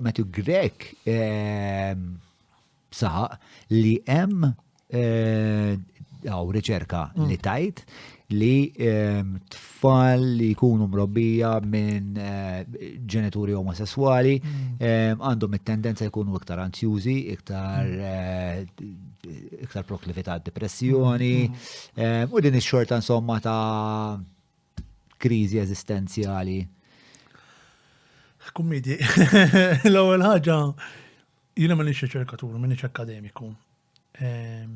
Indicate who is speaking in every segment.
Speaker 1: Matthew Grech ehm, saħaq li hemm eh, għaw riċerka mm. li tajt li ehm, tfal li jkunu mrobbija minn eh, ġenituri omosessuali mm. ehm, għandhom it-tendenza jkunu iktar anzjużi, iktar mm. eh, iktar proklività depressjoni u din ix-xorta insomma ta' kriżi eżistenzjali?
Speaker 2: Kummidi, l-ewwel ħaġa jiena ma nix riċerkatur, ma nix akademiku. Ehm,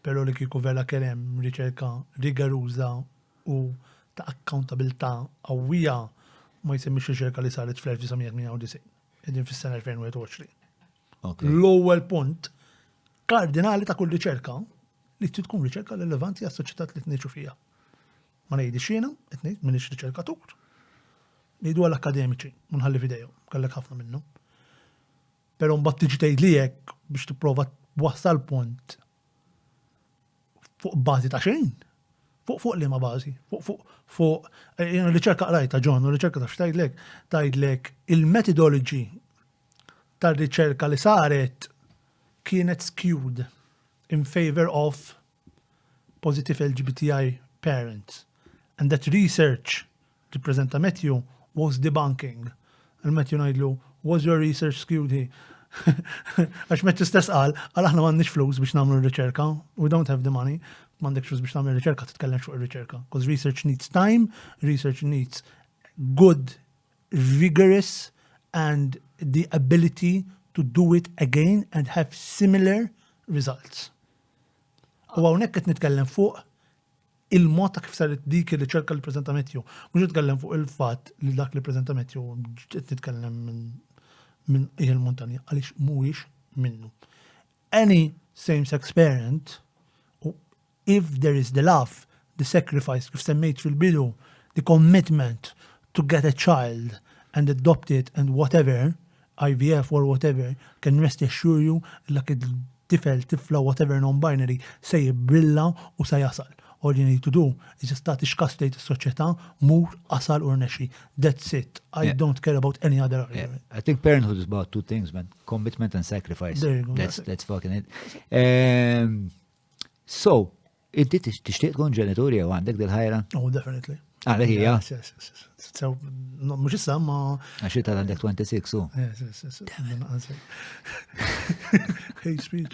Speaker 2: però li kieku vera kelem riċerka rigaruża u ta' accountabilità qawwija ma jsemmix riċerka li saret fl-1998, qegħdin fis-sena 2021. L-ewwel punt kardinali ta' kull riċerka li tkun riċerka rilevanti għas-soċjetà li tniġu fija. Ma ngħidhiex jiena, qed ngħid, m'iniex riċerkatur. Ngħiduha l-akkademiċi, u nħalli f'idejhom, kellek ħafna minnhom. Però mbagħad tiġi tgħidli hekk biex tipprova wassal punt fuq bażi ta' xejn. Fuq fuq li ma bażi, fuq fuq fuq eh, riċerka qrajta ġon, riċerka ta' xtajdlek, tajdlek il-metodoloġi tar-riċerka li saret kienet skewed in favor of positive LGBTI parents and that research li ppreżenta Matthew was debunking. Lil Matthew ngħidlu, was your research skewed he? Għax Matthew stess qal, għal aħna m'għandniex flus biex nagħmlu r-riċerka, we don't have the money, m'għandek flus biex tagħmel riċerka titkellem fuq ir-riċerka. Because research needs time, research needs good, vigorous and the ability to do it again and have similar results. U hawnhekk qed nitkellem fuq il-mod ta' kif saret dik ir-riċerka li preżenta Matthew. Mhux nitkellem fuq il-fatt li dak li preżenta Matthew qed nitkellem minn il montanja għaliex mhuwiex minnu. Any same-sex parent, if there is the love, the sacrifice, kif semmejt fil-bidu, the commitment to get a child and adopt it and whatever, IVF or whatever, can rest assure you li dak it-tifel, tifla, whatever non-binary se jibbrilla u se jasal. All you need to do is just tagħti x'każ tgħid is-soċjetà, mur, asal u rnexxi. That's it. I don't care about any other argument. I think parenthood is about
Speaker 1: two things, man. Commitment and sacrifice. There you go. That's
Speaker 2: fucking it.
Speaker 1: Ehm, so, Inti tixtieq tkun ġenitur jew għandek dil-ħajra? Oh, definitely.
Speaker 2: Għalek hija?
Speaker 1: Sew,
Speaker 2: mhux issa ma. Għax ta' għandek
Speaker 1: 26 u.
Speaker 2: Hate speech.